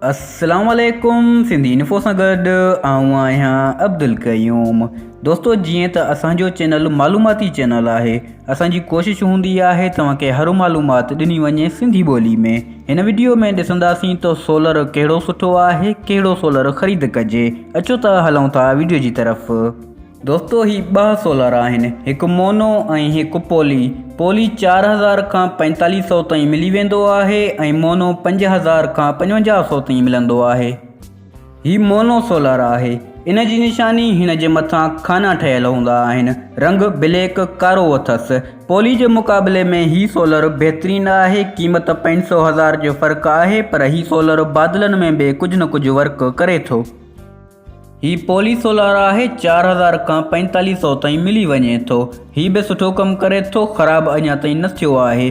السلام عليڪم سنڌي انفو سان گڏ آئون آهيان عبدالقيوم دوستو جيئن ته اسان جو چينل معلوماتي چينل آهي اسان جي ڪوشش هوندي آهي توهان کي هر معلومات ڏني وڃي سنڌي ٻولي ۾ هن ويڊيو ۾ ڏسنداسين ته سولر ڪهڙو سٺو آهي ڪهڙو سولر خريد ڪجي اچو ته هلون ٿا ويڊيو جي طرف دوستو هي ٻه سولر آهن هڪ مونو ۽ هڪ پولي پولي 4000 کان 4500 تائين ملي ويندو آهي ۽ مونو 5000 کان 5500 تائين ملندو آهي هي مونو سولر آهي ان جي نشاني هن جي مٿان خانا ٺهيل هوندا آهن رنگ بليڪ ڪارو اٿس پولي جي مقابلي ۾ هي سولر بهترين آهي قيمت 500 هزار جو فرق آهي پر هي سولر بادلن ۾ به ڪجهه نه ڪجهه ورڪ ڪري ٿو هي پولي سولار آهي چار هزار کان پنجتاليهه سئو تائين ملي وڃي ٿو هي به سٺو ڪم ڪري ٿو خراب اڃا تائين نه ٿيو آهي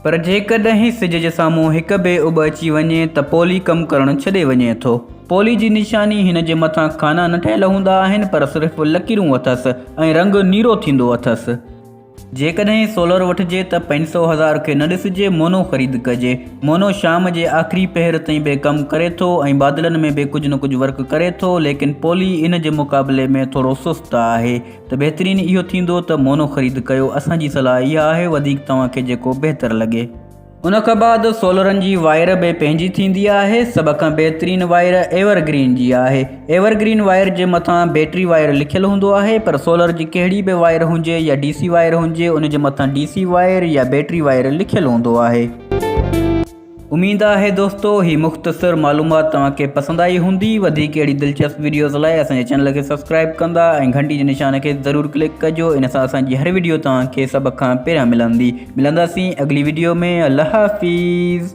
پر جيڪڏهن سج جي سامهون هڪ به اڀ اچي وڃي ته پولي ڪم ڪرڻ ڇڏي وڃي ٿو پولي جي نشاني هن جي مٿان خانا نه ٺهيل هوندا آهن پر صرف لڪيرون اٿس ۽ رنگ نيرو ٿيندو اٿس. جيڪڏهن سولر وٺجي ته پنج سؤ هزار کي نه ڏسجي مونو خريد ڪجي. مونو شام جي آخري پهر تائين به ڪم ڪري ٿو ۽ بادلن ۾ به ڪجهه نه ڪجهه ورڪ ڪري ٿو ليڪن پولي ان جي مقابلي ۾ ٿورو سست آهي ته بهترين اهو ٿيندو ته مونو خريد ڪيو اسان جي صلاح اها آهي وڌيڪ توهان کي جيڪو بهتر لڳي. ان کان بعد سولرن جي وائر به پنهنجي ٿيندي آهي، سڀ کان بهترين وائر ايور گرين جي آهي، ايور گرين وائر جي مٿان بيٽري وائر لکيل هوندو آهي پر سولر جي ڪهڙي به وائر هجي يا ڊي سي وائر هجي ان جي مٿان ڊي سي وائر يا بيٽري وائر لکيل هوندو آهي. اميد آهي دوستو هي مختصر معلومات توهان کي پسند آئي هوندي، وڌيڪ اهڙي دلچسپ وڊيوز لاء اسان جي چينل کي سبسڪرائيب ڪندا ۽ گهنٽي جي نشان کي ضرور ڪلڪ ڪجو ان سان اسان جي هر وڊيو توهان کي سڀ کان پهريان ملندي. ملنداسين اڳلي ويڊيو ۾ الله حافظ.